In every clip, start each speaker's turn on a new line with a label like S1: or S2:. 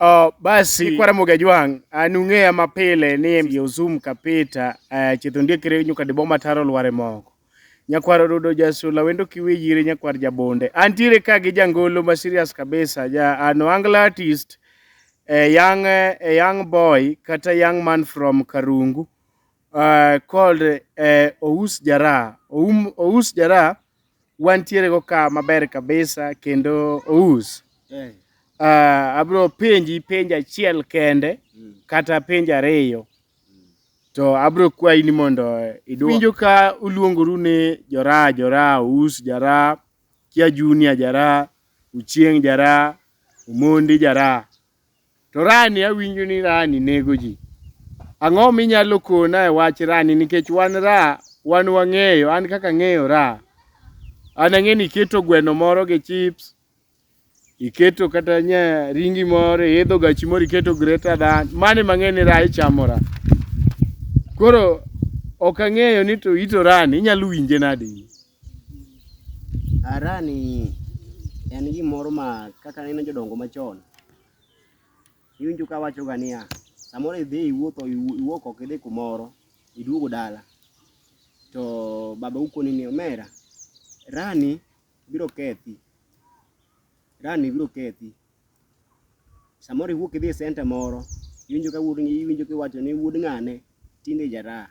S1: Oh, basi kwa ramo gajwang anung'eya mapile ni embi ozum kapita uh, eh, chitho ndiekre nyuka de boma taro lware moko nyakwar odudo jasula wendo kiwe yire nyakwar jabonde antiere ka gi jangolo ma serious kabisa ja ano uh, angla artist a young, a young boy kata young man from karungu uh, called uh, Ous Jara. Oum, Ous Jara wantiere go ka maber kabisa kendo Ous. Eh. Uh, abro penji penja achiel kende mm. kata penja ariyo to abro kwayi ni mondo eh, idwok. Winjo ka uluongoru ni Jora, Jora, Ous Jara, Kia Junior Jara, Uchieng Jara, Umondi Jara. To rani awinjo ni rani nego ji. Ang'o minyalo kona e wach rani nikech wan ra wan wang'eyo an kaka ang'eyo ra. An ang'eyo ni iketo gweno moro gi chips, iketo kata nya ringi moro, iidho gachi moro iketo greater than, mano ema ang'eyo ni ra ichamo ra. Koro ok ang'eyo ni to ito rani inyalo winje nade in. Arani
S2: en gimoro ma kaka aneno jodongo machon, iwinjo ka wachoga niya, samoro idhi iwuotho iwuok oko idhi kumoro, iduogo dala to babau koni ni omera, rani biro kethi, rani biro kethi. Samoro iwuok idhi e centre moro iwinjo ka wuod iwinjo kiwacho ni wuod ng'ane tinde jaraha.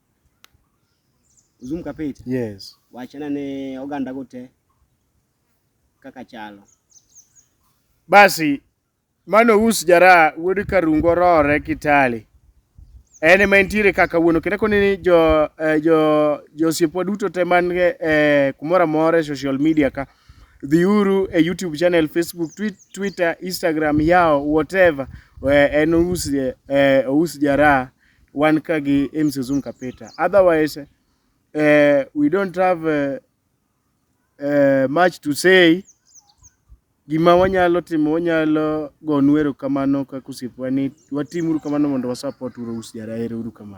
S2: Uzum Kapit? Yes. Wachna
S1: ne
S2: oganda go te kaka chalo.
S1: Basi mano us jara wuod Karungo rore Kitale. En ema entiere kaka wuono kendo koni ni jo eh, jo josiepwa duto te man eh, kumoro amora e social media ka dhiuru e YouTube channel, Facebook, tweet, Twitter, Instagram, yao whatever eh, en us eh, us jara wan ka gi MC Zoom Kapeta. Otherwise, uh, we don't have uh, uh, much to say. Gima wanyalo timo wanyalo gonu erokamano kaka osiepwa ni watimuru kamano mondo wasapot uru us jara uru kamano.